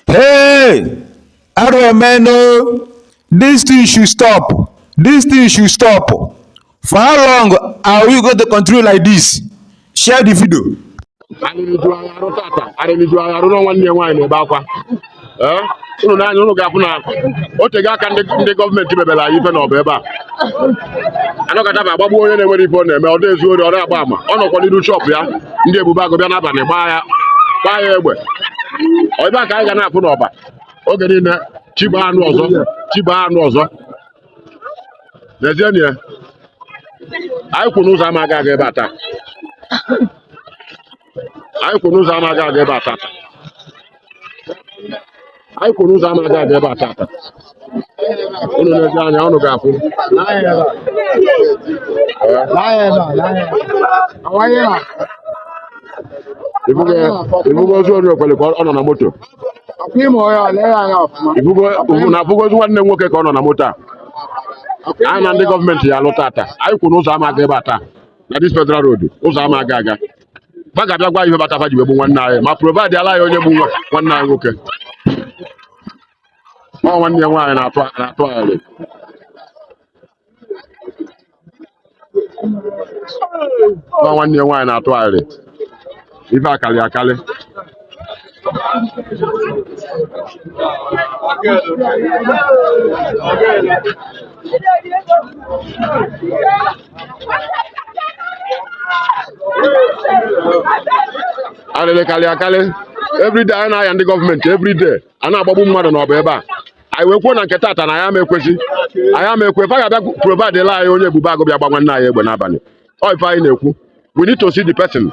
Hey! Arụ emeenụ o! This thing should stop. This thing should stop. For how long are we going to continue like this? Share the video. arịrị eju anyị arụ tata arịrị eju anyị arụ na nwanne ya nwaanyị na-ebe akwa ee unu nee anya unu ga-afụ na o tego aka ndị ndị gọọmenti mebere anyị ife n'Ọba ebe a a nọkata a bịa gbagbu onye na-enwerọ ife ọ na-eme ọ dị ezu ori ọ dị agba ama ọ nọkwa n'iru shọpụ ya ndị ebube agụ bịa n'abalị gbaa ya gbaa ya egbe ọ ife a ka anyị ga na-afụ n'Ọba oge niile chi bọọ a nụ ọzọ chi bọọ a nụ ọzọ n'ezie na ya anyị kwu na ụzọ ama aga aga ebe a taa anyị kwu na ụzọ ama aga aga ebe a tata anyị kwu na ụzọ ama aga aga ebe a tata unu nee anya unu ga-afụ ị fụgo ozu ori okwele ka ọ nọ na moto ị fụgo ozu nwanne m nwoke ka ọ nọ na moto a anyị na ndị gọọmenti ya-alụ tata anyị kwu na ụzọ ama aga ebe a taa na this federal road ụzọ ama aga aga fa ga-abịa kọwaa ife kpata fa ji wee gbu nwanne anyị ma provide ala anyị onye gbu nwa- nwanne anyị nwoke ọ nwanne ya nwaanyị na-atụ na-atụ agharị ọ nwanne ya nwaanyị na-atụ agharị ife a kalị akalị alịlị kalị akalị everyday anyị na-ayọ ndị gọọmenti everyday a na-agbagbu mmadụ n'Ọba ebe a anyị wee kwuo na nke tata na anyị ama ekwezi anyị ama ekwe fa ga-abịa provide la anyị onye ebube agụ bịa gba nwanne anyị egbe n'abalị ọ ife anyị na-ekwu we need to see the person